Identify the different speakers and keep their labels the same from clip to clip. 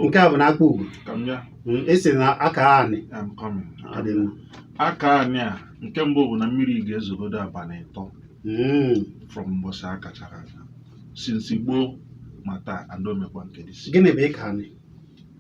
Speaker 1: nke a bụ na akpụgo
Speaker 2: hmm, esi na aka anị aka
Speaker 1: anị a nke mbụ bụ na mmiri ga-ezogodo abalị ịtọ hmm. from mbọsị a kachara since gboo ma taa adaomekwa nke dị gịnị bụ ịka
Speaker 2: anị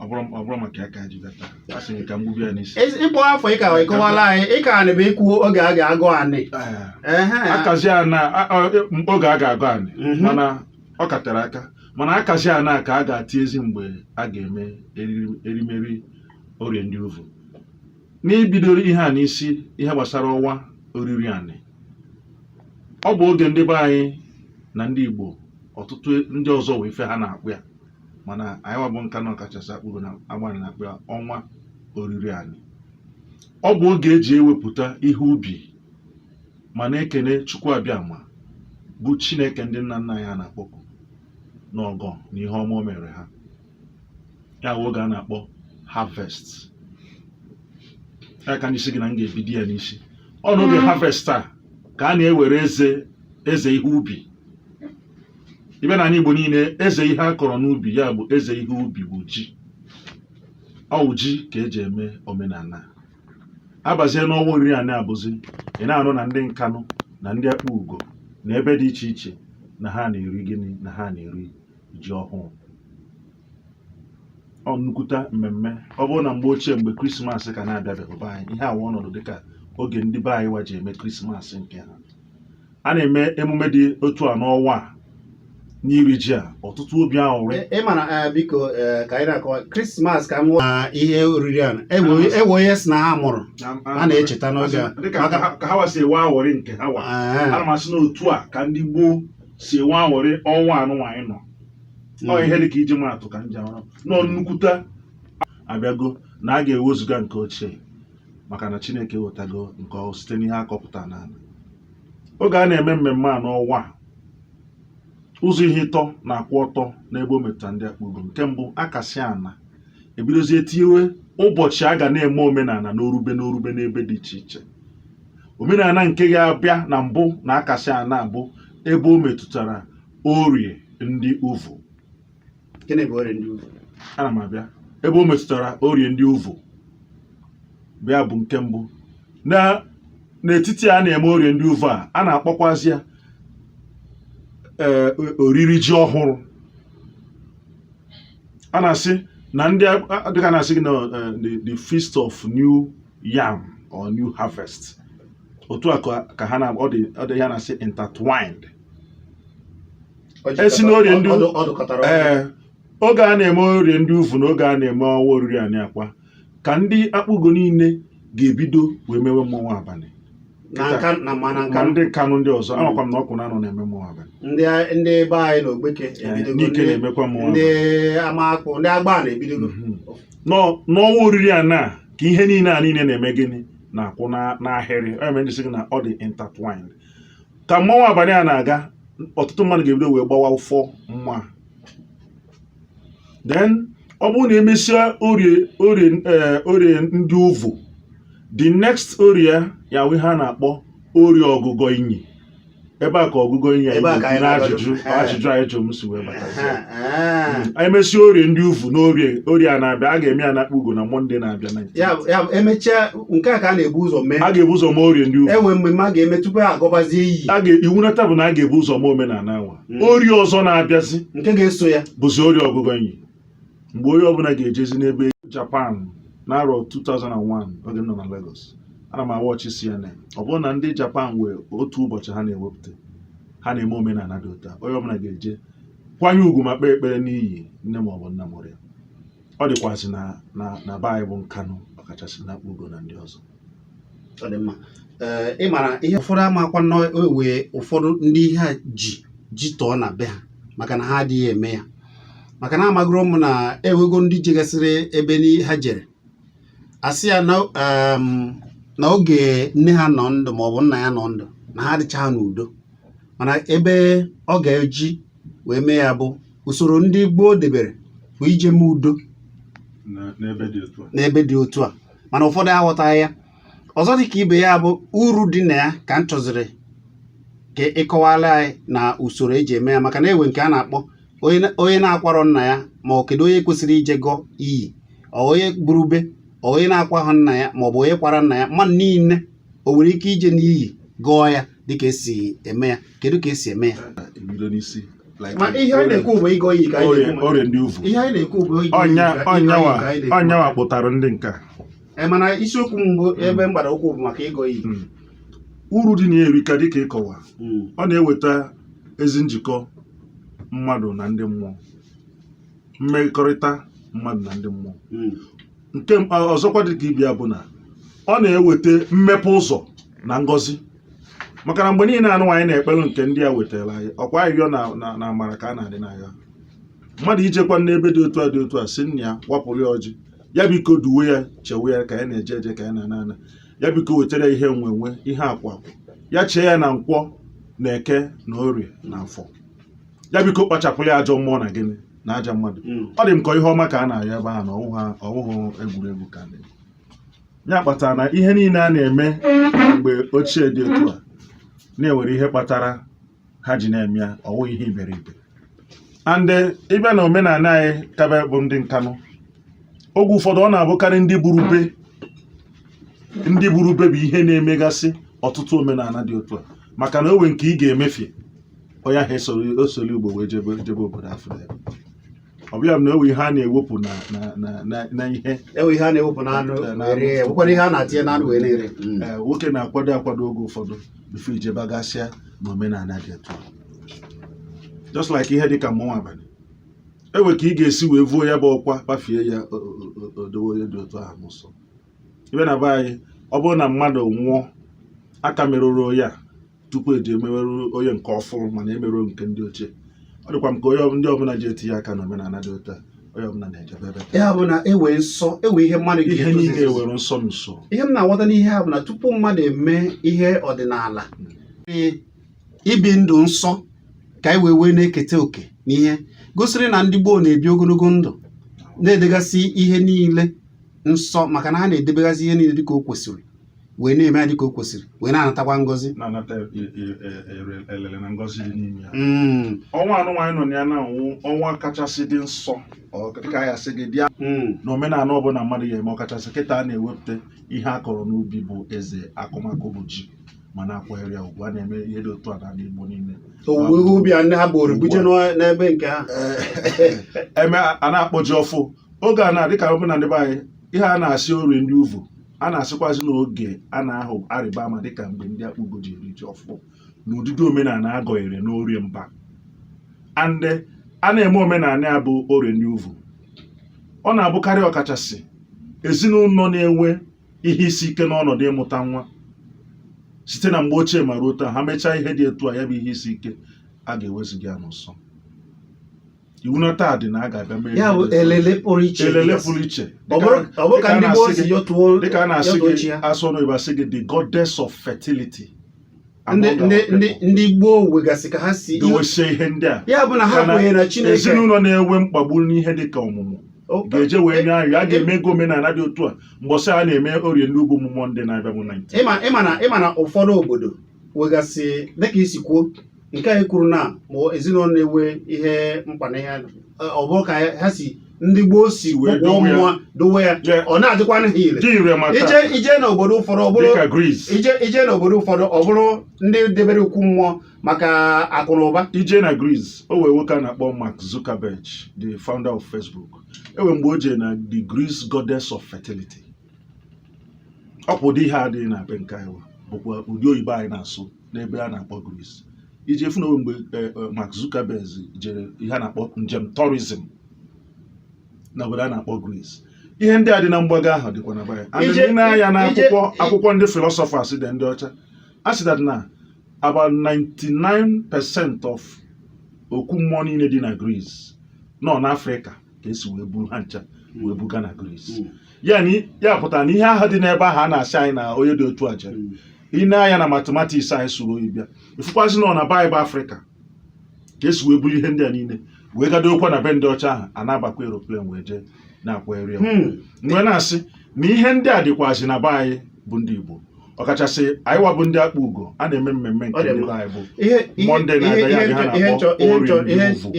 Speaker 1: ọ bụrụ maka ya ka ji bịa taa a sị ka m gbubi ya n'isi ịkpọ afọ ịka
Speaker 2: ịkọwala anyị ịka anị bụ ikwu oge a ga-agụ anị akazi
Speaker 1: ana oge a ga-agụ anị mhm. mana ọ ka tere aka mana akazi ana ka a ga-ati ezi mgbe a ga-eme eriri- erimeri orie ndị uvu n'ibidoro ihe a n'isi ihe gbasara ọnwa oriri anị ọ bụ oge ndị be anyị na ndị igbo ọtụtụ ndị ọzọ nwe ife ha na-akpọ ya mana anyị wa bụ nkanụ ọkachasị akpụgo na agbanị na-akpọ ya ọnwa oriri anị ọ bụ oge eji ewepụta ihe ubi ma na-ekene Chukwu Abịama bụ Chineke ndị nna nna anyị na-akpọku n'ọgọ na ihe ọma o mere ha ya wụ oge a na-akpọ harvest ya ka m ji si gị na m ga-ebido ya n'isi ọ n'oge Mm. harvest a ka a na-ewere eze eze ihe ubi ibe n'anị Igbo niile eze ihe a kọrọ n'ubi ya bụ eze ihe ubi bụ ji ọ wụ ji ka eji eme omenana. abazie n'ọnwa oriri anị abụzi ị na-anụ na ndị nkanụ na ndị akpụgo na ebe dị iche iche na ha na-eri gịnị na ha na-eri ji ọhụụ ọ nnukwuta mmemme ọ bụrụ na mgbe ochie mgbe krismas ka na-abịabeghị be anyị ihe awa ọnọdụ dịka oge ndị be anyị wa ji eme krismas nke ha a na-eme emume dị otu a n'ọnwa a n'iri ji a ọtụtụ obi aṅụrị ị mara eh,
Speaker 2: biko eh, ka anyị na-akọwa krismas kama na ihe oriri a enwe onye si na ha mụrụ a na-echeta n'oge a dịka ka ha wa si enwe
Speaker 1: aṅụrị nke ha wa eh. ana m asị na otu a ka ndị gboo si enwe aṅụrị ọnwa anụnwa anyị nọ hmm. ọ ihe dịka iji maatụ ka m ji arụ nọ nnukwute abịago na a ga-ewezuga nke ochie maka na Chineke ewetago nke ọhụụ site n'ihe akọpụta n'ana oge a na-eme mmemme a n'ọnwa a ụzọ ihe ịtọ na-akwụ ọtọ n'ebe o metụtara ndị akpụgo nke mbụ akasị ana ebidozie tiwe ụbọchị a ga na-eme omenana n'orube n'orube n'ebe dị iche iche omenana nke ga-abịa na mbụ na akasị ana bụ ebe o metụtara orie ndị uvu
Speaker 2: gịnị bụ orie ndị uvu ana m
Speaker 1: abịa ebe o metụtara orie ndị uvu bụ ya bụ nke mbụ na n'etiti a na-eme orie ndị uvu a a na-akpọkwazi ya ee oriri ji ọhụrụ a na-asị na ndị a- a- dịka a na-asị gị na eh, the, the feast of new yam or new harvest otu a ka ka ha na ọ dị ọ dị ya na-asị intertwined esi n'orie ndị ee oge a na-eme orie ndị uvu na oge a na-eme ọnwa oriri anị akwa ka ndị akpugo niile ga-ebido wee mewe mmọnwụ abalị ka ndị nkanụ ndị ọzọ hmm. amakwa m na ọkụnanọ na-eme mmọnwụ abalị ndị be
Speaker 2: anyị na ogbeke nike
Speaker 1: na-emekwa mmọnwụ ndị
Speaker 2: amakpụ ndị agbanị ebidogo
Speaker 1: hmm. n'ọnwa oriri anị a ka ihe niile a niile na-eme gịnị na-akwụ n'ahịrị ọ ya mere m ji sị gị na ọ dị intertwined ka mmanwụ abalị a na-aga ọtụtụ mmadụ ga-ebido wee gbawa ụfọ mma then ọ bụrụ na emesịa orie orie eh, orie ndị uvu the next orie ya wụ ihe a na-akpọ orie ọgụgọ inyi ebe a ka ọgụgọ inyi anyị na ajụjụ ajụjụ a ị jụrụ m si wee bata anyị mesịa orie ndị uvu na orie orie a na-abịa a ga-eme ya na akpugo na mọnde na-abịa na emechaa
Speaker 2: nke a ka a na-ebu ụzọ mee a ga-ebu ụzọ mee orie ndị
Speaker 1: uvu enwe mmemme a ga-eme
Speaker 2: tupu a gọbazie iyi a ga iwu nata bụ na a
Speaker 1: ga-ebu ụzọ mee omenala anwa Mm. orie ọzọ na-abịazi nke ga-eso ya
Speaker 2: bụzi orie ọgụgọ inyi
Speaker 1: mgbe onye ọbụla ga-ejezi n'ebe Japan n'arọ 2001 oge m nọ na Lagos ana m a-watch CNN ọ bụrụ na ndị Japan nwee otu ụbọchị ha na-ewepụta ha na-eme omenala dị otu a onye ọbụla ga-eje kwanye ugwu ma kpee ekpere n'iyi nne ma ọ bụ nna mụrụ ya ọ dịkwazị na na na be anyị bụ nkanụ ọkachasị n'akpugo na ndị ọzọ ọ dị
Speaker 2: mma ee ị mara ihe ụfọdụ amakwa na enwe ụfọdụ ndị ihe a ji ji tọọ na be ha maka na ha adịghị eme ya maka na amagoro m na enwego ndị jegasịrị ebe ni ha jere a sị ya na em, na oge nne ha nọ ndụ maọbụ nna ya nọ ndụ na ha adịchaghị n'udo mana ebe ọ ga-eji wee mee ya bụ usoro ndị gboo debere bụ ije mee udo n'ebe dị otu a mana ụfọdụ aghọtaghị ya ọzọ dị ka ibe ya bụ uru dị na ya ka m chọziri ka ị kọwala anyị na usoro eji eme ya maka na enwe nke a na-akpọ onye na-akwarọ nna ya ma ọ kedu onye kwesịrị ije gọọ iyi onye gburube onye na-akwa ha nna ya maọbụ onye kwara nna ya mmadụ niile o nwere ike ije n'iyi gọọ ya dịka esi eme ya kedu ka esi eme ya orie ndị uvu
Speaker 1: ọ yanwa kpụtara ndị nke a e, mana
Speaker 2: isiokwu mbụ hmm. ebe mgbado ụkwụ bụ maka ịgọ iyi hmm. uru
Speaker 1: dị na ya erika dịka ịkọwa hmm. ọ na-eweta ezi njikọ mmadụ na ndị mmụọ mmekọrịta mmadụ na ndị mmụọ nke mkpa ọzọkwa dị ka ibe ya bụ na ọ na-eweta mmepe ụzọ na ngọzi maka na mgbe niile a nụwa anyị na-ekpelu nke ndị a wetara anyị ọkwa ahịhịọ na na- na amara ka a na-adị n'agha mmadụ ijekwa n'ebe dị otu a dị otu a si nna ya wapụrụ ya ọjị ya biko duwe ya chewe ya ka ya na-eje eje ka ya na-ana ana ya biko wetara ya ihe enwe enwe ihe akụ akụ ya chee ya na nkwọ na eke na orie na afọ ya biko kpachapụrụ ya ajọ mmụọ na gịnị na ajọ mmadụ hmm. ọ dị m ka ihe ọma ka a na-ayọ ebe ahụ na ọwụhụ egwuregwu ka na ya kpatara na ihe niile a na-eme mgbe ochie dị otu a na e nwere ihe kpatara ha ji na-eme ya ọwụhụ ihe iberibe and eh, ịbịa na omenala anyị kabe bụ ndị Nkanu oge ụfọdụ ọ na-abụkarị ndị buru be ndị buru be bụ ihe na-emegasị ọtụtụ omenala dị otu a maka na owe nke ị ga-emefie onye ahụ esoro ugbo wee jebe jebe obodo afọ ya ọ bụ ya na ewe ihe a na-ewepụ na na ihe ewe ihe a na-ewepụ na
Speaker 2: anụ nwekwara ihe a na-atinye na anụ wee na-eri mm. eh, nwoke na-akwado
Speaker 1: akwado oge ụfọdụ bifo ijebegasị na omenala dị otu a just like ihe dịka mmanwụ abalị ewe ka ị ga-esi wee vuo ya bụ ọkwa kpafie ya o dowe onye dị otu ahụ n'ụsọ ịbịa na be anyị ọ bụrụ na mmadụ nwụọ aka merụrụ onye a tupu eji emewerụ onye nke ọfụrụ mana emerụ nke ndị ochie ọ dịkwa m ka onye ndị ọbụla ji etinye aka na omenala dị otu a onye ọbụla na-ejebe ebe ya bụ na ewe nsọ
Speaker 2: ewe ihe mmadụ ihe niile ewere
Speaker 1: nsọ so ihe m na-aghọta n'ihe
Speaker 2: a bụ na tupu mmadụ eme ihe ọdịnala hmm. ibi ndụ nsọ ka anyị wee wee na-eketa oke n'ihe gosiri na ndị gboo na-ebi ogologo ndụ na-edegasị ihe niile nsọ maka na ha na-edebegasị ihe niile dịka o kwesịrị wee na-eme ya dịka o kwesịrị wee na-anatakwa ngọzi na-anata e-
Speaker 1: e- e- ere- elele na ngọzi dị n'ime ya Mm, ọnwa a nụnwa anyị nọ na ya nụnwa bụ ọnwa kachasị dị nsọ ọ dịka anyị asị gị bịa mm, n'omenala ọbụla mmadụ ga-eme ọkachasị kịta a na-ewepụta ihe a kọrọ n'ubi bụ eze akụmakụ bụ ji ma na-akwanyere ya ugwu a na-eme ihe dị otu a n'ala Igbo niile owuwe ihe ubi a
Speaker 2: ndị ha buru buje n'ọ- n'ebe nke ha
Speaker 1: eme a na-akpọ ji ọfụ oge a na-adị ka ọbụla ndị be anyị ihe a na-asị orie ndị uvu a na-asịkwazị n'oge a na-ahụ arịba ama dịka mgbe ndị Akpugo ji eri ji ọfụ na ụdịdị omenala agọnyere n'Orie Mba and a na-eme omenala ya bụ orie ndị uvu ọ na-abụkarị ọkachasị ezinụlọ na-enwe ihe isi ike n'ọnọdụ ịmụta nwa site na mgbe ochie ma ruo taa ha mechaa ihe dị etu a ya bụ ihe isi ike a ga-eweziga ya n'ụsọ iwu na taa dị na a ga-abịa mee ya bụ emume elele pụrụ
Speaker 2: iche elele pụrụ
Speaker 1: iche Ọ bụrụ- ọ bụrụ ka ndị gboo si
Speaker 2: yọtuo dịka a na-asị yọtuo chi gị ya asụ
Speaker 1: ọnụ Igbo asị gị the goddess of fertility ndị Among ndị our
Speaker 2: ndị people. ndị gboo nwegasị ka ha si dowesie ihe ndị
Speaker 1: a ya bụ na ha Mana kwenyere
Speaker 2: na chineke ezinụlọ na-enwe
Speaker 1: mkpagbu n'ihe dị ka ọmụmụ O- ga-eje wee nye anyị a ga-eme ego omenala dị otu a mbọsị a na-eme orie ndị ugwu Mọnde na-abịa bụ 19 ị ma na
Speaker 2: ụfọdụ obodo nwegasị dịka i si kwuo nke anyị kwuru na ma ezinụlọ na-enwe ihe mkpa na ihe ọ bụrụ ka ha si ndị gboo si wee dowe ya ọ na-adịkwa ha ire i jee n'obodo ụfọdụ ọ bụrụ ndị debere okwu mmụọ maka akụ na ụba i jee na Greece
Speaker 1: o nwee nwoke a na-akpọ Mark Zuckerberg the founder of Facebook e nwe mgbe o jee na the Greece goddess of fertility ọ bụ ụdị ihe adịghị na be nke anyị bụkwa ụdị oyibo anyị na-asụ n'ebe a na-akpọ Greece i je afụ na o nwe mgbe e, e, Mark Zuckerberg jere ihe a na-akpọ njem tourism na obodo a na-akpọ Greece ihe ndị a dị na mgbago ahụ dịkwa na be anyị i nee anya na akwụkwọ ndị philosophers dị ndị ọcha a sị that na about 99 percent of okwu mmụọ niile dị na Greece na ọ n'Afrịka ka e si wee buru ha ncha wee buga na Greece ya pụtara na ihe ahụ dị n'ebe ahụ a na-asị anyị na onye dị otu a jere i nee anya na mathematics anyị sụrụ oyibo ị fụkwazị na ọ na be anyị bụ Afrịka ka e si wee buru ihe ndị a niile wee gaa dokwa na be ndị ọcha ahụ a na-abakwa eroplen wee jee na-akwagharị wee na-asị na ihe ndị a dịkwazi na be anyị bụ ndị Igbo ọkachasị anyịwa bụ ndị Akpugo a na-eme mmemme nke ndị be anyị bụ Mọnde na-abịa ya ha na-akpọ orie ndị uvu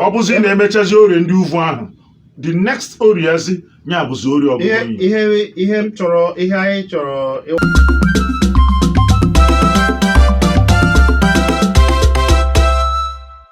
Speaker 1: ọ bụzi na-emechazi orie ndị uvu ahụ the next orie zi ya bụzi orie ọbụla ihe m
Speaker 2: chọrọ
Speaker 1: ihe anyị chọrọ